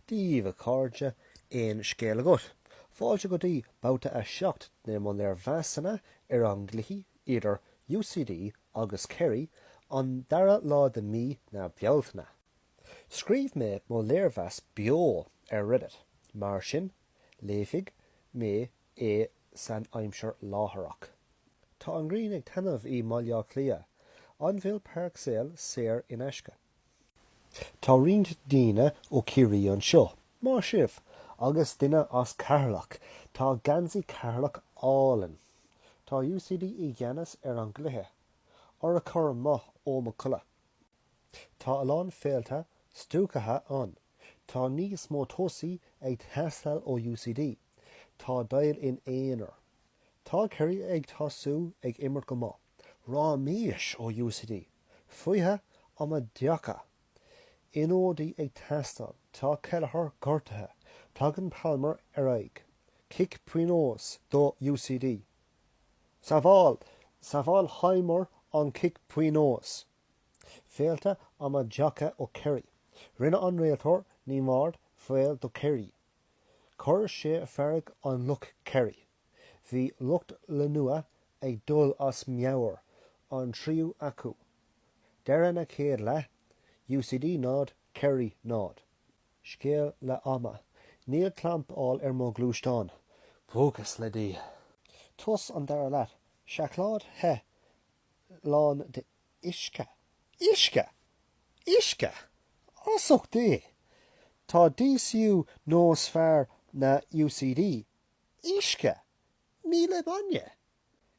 Dia daoibh a chairde, aon scéal agat? Fáilte go dtí babhta 7 de mo léirmheasanna ar an gcluiche idir UCD agus Kerry, an dara lá de mí na Bealtaine. Scríobh mé mo léirmheas beo ar Reddit, mar sin léifidh mé é san aimsir láithreach. Tá an ghrian ag taitneamh i mBaile Átha Cliath, an bhfuil páirceáil saor in aisce? Tá roinnt daoine ó Ciarraí anseo. Maith sibh! Agus duine as Ceatharlach. Tá geansaí Ceatharlach álainn. Tá UCD i gceannas ar an gcluiche. Ora cur amuigh ó mo codladh. Tá a lán féilte stuacaithe ann. Tá níos mó tosaí ag teastáil ó UCD. Tá Doyle in aonar. Tá Kerry ag tosú ag imirt go maith. Raiméis ó UCD, Fuithe amaideacha! Ionadaí ag teastáil, tá Kelliher gortaithe, tagann Palmer ar aghaidh, cic pionóis do UCD. Sábháil! Sábháil Hiemer an cic pionóis! Féilte amaideacha ó Kerry. Rinne an réiteoir neamhaird foul do Kerry. Chuir sé fearg an lucht Kerry. Bhí lucht leanúna ag dul as meabhair, an triúr acu, deireadh na chéad leath, UCD 0, Kerry 0. Scéal leath ama. Níl clampáil ar mo ghluaisteán. Buíochas le Dia. Tús an dara leath, seacláid the lán d'uisce. Uisce! Uisce! As ucht Dé! Tá DCU níos fearr ná UCD uisce, níl aon bainne.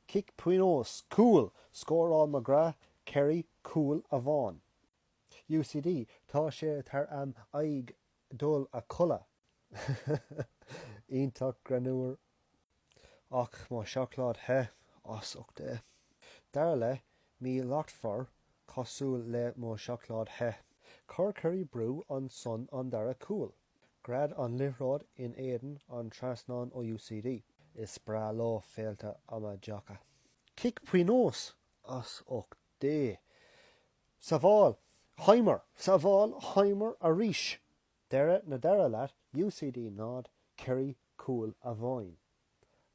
cic pionóis, cúl, scóráil McGrath, Kerry, cúl amháin. UCD, Tá sé thar am aghaidh dul a chodladh. iontach greannmhar. Ach mo sheacláid the, as ucht Dé. Dara leath míshlachtmhar, cosúil le mo sheacláid the. Chuir Kerry brú ar son an dara cúl. Gread an liathróid in éadan an trasnáin ó UCD. Is breá leo féilte amaideacha. Cic pionóis as ucht Dé. Sábháil Hiemer! Sábháil Hiemer arís! Deireadh na dara leath UCD 0, Kerry Cúl amháin.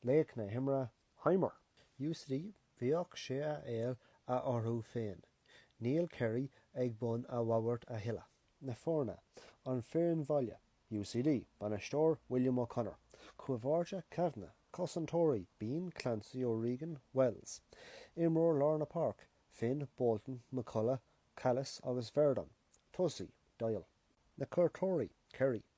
Laoch na himeartha, Hiemer. UCD, bheadh sé a fháil orthu féin. Níl Kerry ag bun an bhoird a thuilleadh. na foirne, an fhoireann bhaile, UCD, bainisteoir, William O'Connor, cúl báire Kavanagh, cosantóirí, Behan, Clancy, O'Regan, Wells, imreoir lár na páirc, Finn, Bolton, McCullagh, Cailloce agus Verdon, tosaí, Doyle, na cuairteoirí, Kerry.